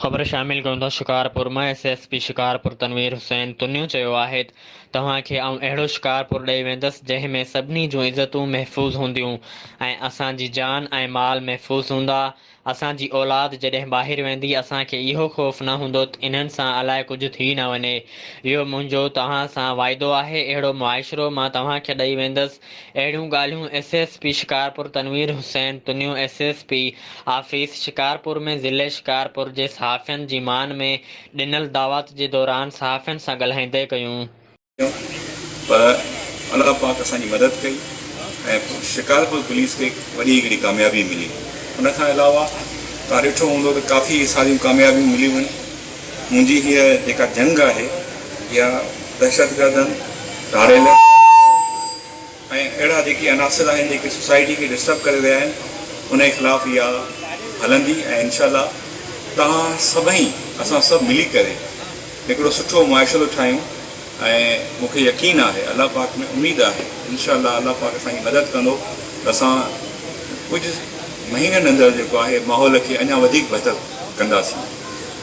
خبر شامل ڪيون ٿا شڪارپور مان S S P Shikarpur Tanveer Hussain Tunio چيو آهي ته توهان کي آئون اهڙو شڪارپور ڏئي ويندس جنهن ۾ سڀني جون عزتون محفوظ هونديون ۽ اسان جي جان ۽ مال محفوظ هوندا اسان جي اولاد جڏهن ٻاهر ويندي اسان کي اهو خوف نه هوندوته انهن سان الائي ڪجهه ٿي نه وڃي اهو منهنجو توهان سان واعدو آهي اهڙو معاشرو مان توهان کي ڏئي ويندس اهڙيون ڳالهيون S S P Shikarpur Tanveer Hussain Tunio S S P office Shikarpur ۾ ضلعي شڪارپور جي صحافين جي مان ۾ ڏنل دعوات جي دوران صحافين سان ڳالهائيندي ڪيون. پر الله پاڪ اسان جي مدد ڪئي ۽ شڪارپور پوليس کي وڏي هڪڙي ڪاميابي ملي ان کان علاوه تان ڏٺو هوندو ته ڪافي ساريون ڪاميابيون مليون آهن. منهنجي هيء جيڪا جنگ آهي اها دهشتگردن، ڌاڙيلن ۽ اهڙا جيڪي عناصر آهن جيڪي سوسائٽي کي ڊسٽرب ڪري رهيا آهن انهي خلاف اها هلندي ۽ انشاء الله توهان سڀئي اسان سڀ ملي ڪري هڪڙو سٺو معاشرو ٺاهيون ۽ مون کي يقين آهي الله پاڪ ۾ اميد آهي انشاء الله الله پاڪ اسان جي مدد ڪندو ته اسان ڪجهه مهينن اندر جيڪو آهي ماحول کي اڃا وڌيڪ بهتر ڪنداسين.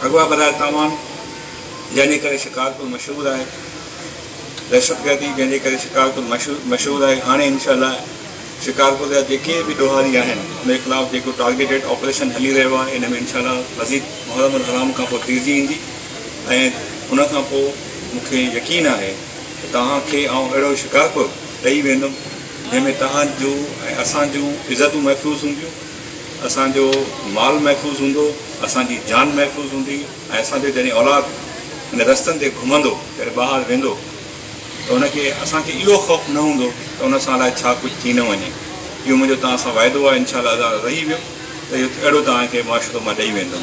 اغوا براء تاوان جنهن جي ڪري شڪارپور مشهور آهي، دهشت گردي جنهن جي ڪري شڪارپور مشهور آهي، هاڻي انشاء الله شڪارپور جا جيڪي به ڏوهاري آهن ان جي خلاف جيڪو ٽارگيٽيڊ آپريشن هلي رهيو آهي ان ۾ انشاء الله مزيد محرم الحرام کان پوء تيزي ايندي ۽ ان کان پوء مون کي يقين آهي ته توهان کي آئون اهڙو شڪارپور ڏئي ويندم جنهن ۾ توهان جون ۽ اسان جون عزتون محفوظ هونديون. اسان جو مال محفوظ هوندو، اسان جي جان محفوظ هوندي ۽ اسان جو جڏهن اولاد ان رستن تي گهمندو، جڏهن ٻاهر ويندو ته ان کي اسان کي اهو خوف نه هوندو ته ان سان الائي ڇا ڪجهه ٿي نه وڃي. اهو منهنجو توهان سان واعدو آهي، انشاء الله ادا رهي ويو ته اهو اهڙو توهان کي معاشرو مان ڏئي ويندم.